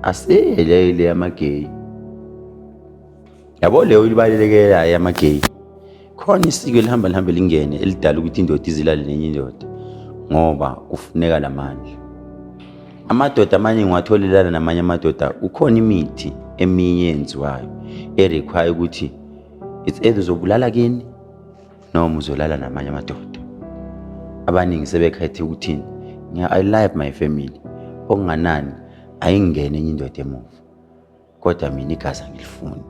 Asile leyo le yamageyi. Yabo leyo ilibalekela yamageyi. Khona isiko elihamba lihambe lingene elidala ukuthi indoda izilale nenye indoda ngoba kufuneka lamandla. Amadoda amanye ngiwatholelana namanye amadoda kukhona imithi eminye eyenziwayo erequire ukuthi it's either uzobulala kini noma uzolala namanye amadoda abaningi sebekhethe ukuthini ngiya i love my family okunganani ayingene enye indoda emuva kodwa mina igazi angilifuni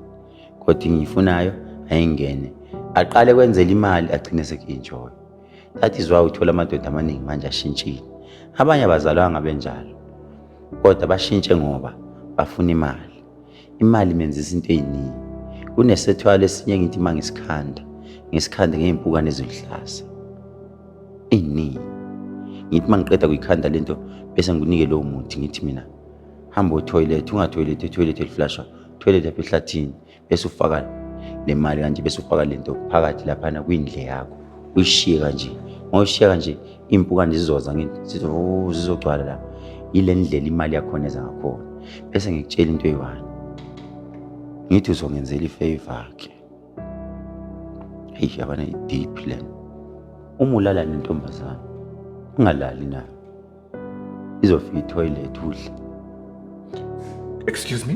kodwa engiyifunayo ayingene aqale kwenzela imali agcine seku-enjoy that is why uthola amadoda amaningi manje ashintshile abanye abazalwanga benjalo kodwa bashintshe ngoba bafuna imali Imali imenza izinto eziningi. Kunesethwalo esinye ngithi uma ngisikhanda, ngisikhande ngey'mpukane eziluhlaza. Ey'ningi. Ngithi uma ngiqeda kuyikhanda le nto bese ngikunike lowo muthi ngithi mina hamba othoyilethi ungathoyilethi ethoyilethi eliflashwa thoyilethi apha ehlathini bese ufaka le mali kanje bese ufaka le nto phakathi laphana kwindle yakho uyishiye kanje ngoyishiya kanje iy'mpukane zizoza ngithi sithi o oh, zizogcwala la yile ndlela imali yakhona eza ngakhona bese ngikutshela into eyi-one ngithi uzongenzela ifeva ke heyi yabana i-deep lena uma ulala nentombazane ungalali nayo izofika ithoyilethi udla excuse me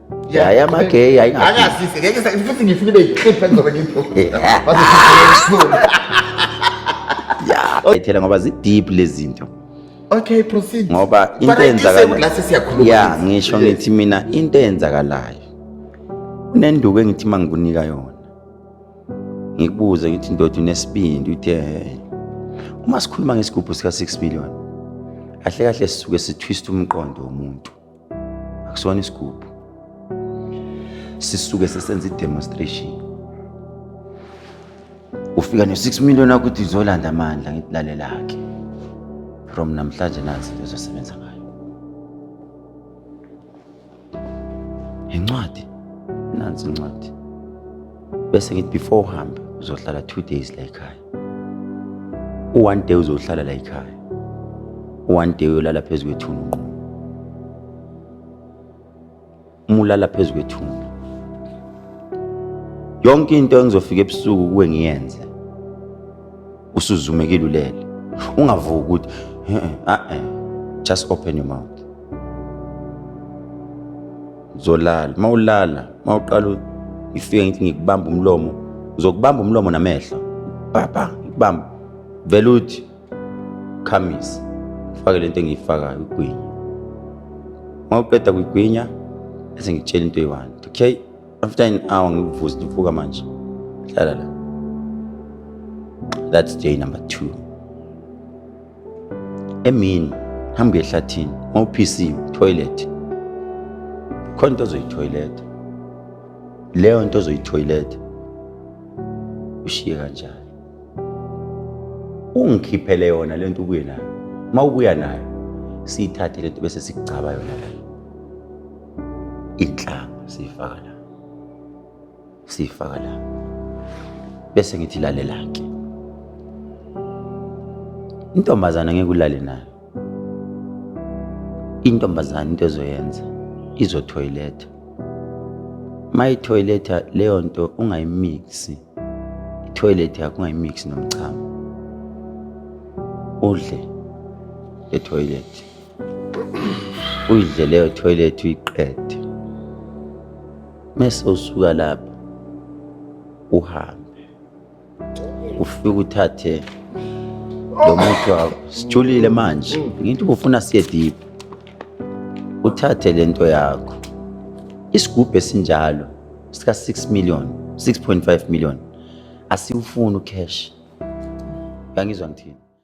yaya amageyi ayingazise ngeke futhi ngifuna ibe yiqiphi engizobe ngiyibhokile ethela ngoba zideep lezinto okay proceed ngoba into eyenzakalayo ya ngisho ngithi mina into eyenzakalayo unenduku engithi mangikunika yona ngikubuze ngithi ndoda unesibindi uthe uma sikhuluma ngesigubhu sika 6 million kahle kahle sisuke sitwist umqondo womuntu akusona isigubhu sisuke sesenza i-demonstration ufika no-six million akuthi uzolanda amandla ngithi lalelakhe from namhlanje nansi into ezosebenza ngayo incwadi nansi incwadi bese ngithi before uhambe uzohlala two days la ekhaya u-one day uzohlala la ekhaya u-one day uyolala phezu kwethuna unqumo uma ulala phezu kwethuna yonke into engizofika ebusuku kuwe ngiyenze usuzumekile ulele ungavuki ukuthi eh, eh, eh, just open your mouth uzolala uma ulala uma uqala ngifike ngithi ngikubamba umlomo ngizokubamba umlomo namehlo baba ngikubamba vele uthi khamisa ufake lento engiyifakayo ugwinya uma uqeda kuyigwinya bese ngitshela into eyi-one okay after an hour ngikuvuze ndivuka manje hlala la that's day number two emini hambe ehlathini mawuphisiwe toilet khona into ozoyithoyiletha leyo nto ozoyithoyiletha ushiye kanjani ungikhiphele yona lento ubuye nayo uma ubuya nayo siyithathe lento bese sikugcaba yona la inhlamba siyifaka la siyifaka la bese ngithi lalela-ke intombazana ngeke ulale nayo intombazana into ezoyenza izothoyiletha mayithoyiletha leyo nto ungayimiksi ithoyiletha yakho ungayimiksi nomchamo udle ethoyilethi uyidle leyo thoyilethi uyiqede mese usuka lapho uhambe ufike uthathe lo muthi wakho sijulile manje ngithi ufuna siye deep uthathe le nto yakho isigubhu esinjalo sika-6 million 6.5 million asiwufuni ucash uyangizwa ngithini